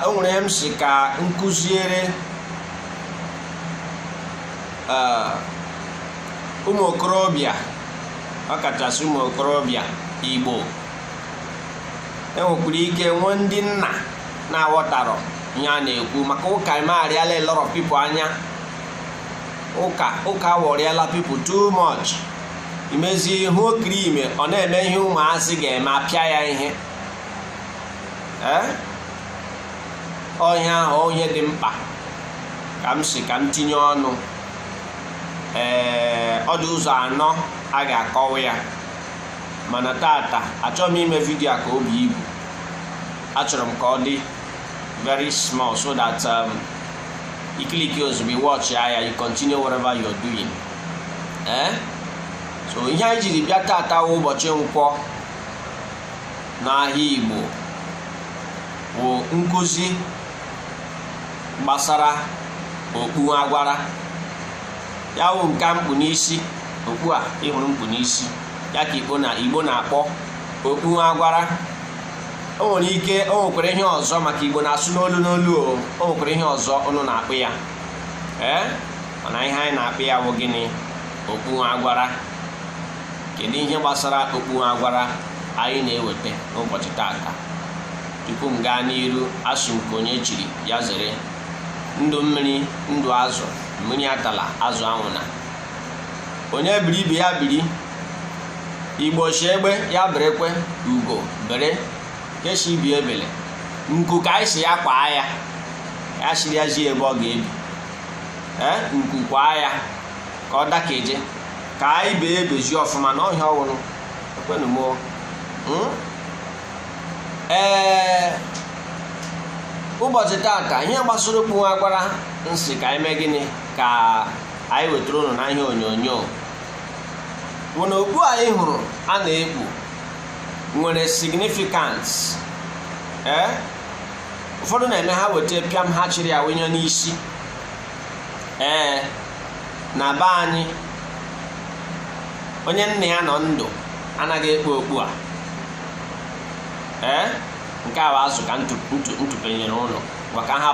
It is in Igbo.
o nwere ihe m si ka m kụziere eh, ụmụ okorobịa ọkachasị ụmụ okorobịa igbo enwekwara ike nwee ndị nna na-aghọtarọ ihe a na-ekwu maka ụka emegharịala a lot of people anya ụka awọrịala people too much imezie ịhụ okiri ime ọ na-eme ihe ụmụazị ga-eme a pịa ya ihe ọ ihe ahụ wụ ihe dị mkpa ka m si ka m tinye ọnụ ee ọ dị ụzọ anọ a ga-akọwa ya mana tata achọrọ m ime vidio a ka o buo ibu achọrọ m ka ọ dị very small so that um, i click ozugbo watchaa ya you continue whatever you're doing ee so ihe anyị jiri bịa tata wụ ụbọchị nkwọ n'ahịa Igbo bụ nkụzi gbasara okpu agwara ya wụ nke m kpu n'isi okpu a ị hụrụ m kpu n'isi ya ka Igbo na Igbo na-akpọ okpu agwara o nwere ike o nwekwara ihe ọzọ maka Igbo na-asụ n'olu n'olu o o nwekwara ihe ọzọ ụnụ na-akpọ ya ee mana ihe anyị na-akpọ ya wụ gịnị okpu agwara kedu ihe gbasara okpu agwara anyị na-eweta n'ụbọchị tata tupu m gaa n'iru asị m nke onye chiri ya zere ndụ mmiri ndụ azụ mmiri atala azụ anwụna onye biri ibe ya biri igbo shị egbe ya berekwe ugo bere ke shị ibe ebele nku ka anyị sị ya kwaa ya ya sịrị ya zie ebe ọ ga-ebi ee nku kwaa ya ka ọ dakeje ka anyị bee bezie ọfụma na ọhịa ọhụrụ ekwenụ m hmm? ee ụbọchị tata ihe gbasara okpu nwa agwara m sị ka anyị mee gịnị ka anyị wetara ụnụ na ihe onyonyo wụ na okpu anyị hụrụ a na-ekpu nwere significance ee eh? ụfọdụ na-eme ha weta pịam ha chịrị ya wụnye n'isi ee na be anyị onye nna ya nọ ndụ anaghị ekpu okpu a ee nke a bụ azụ ka m tụpenyere ụnụ maka ha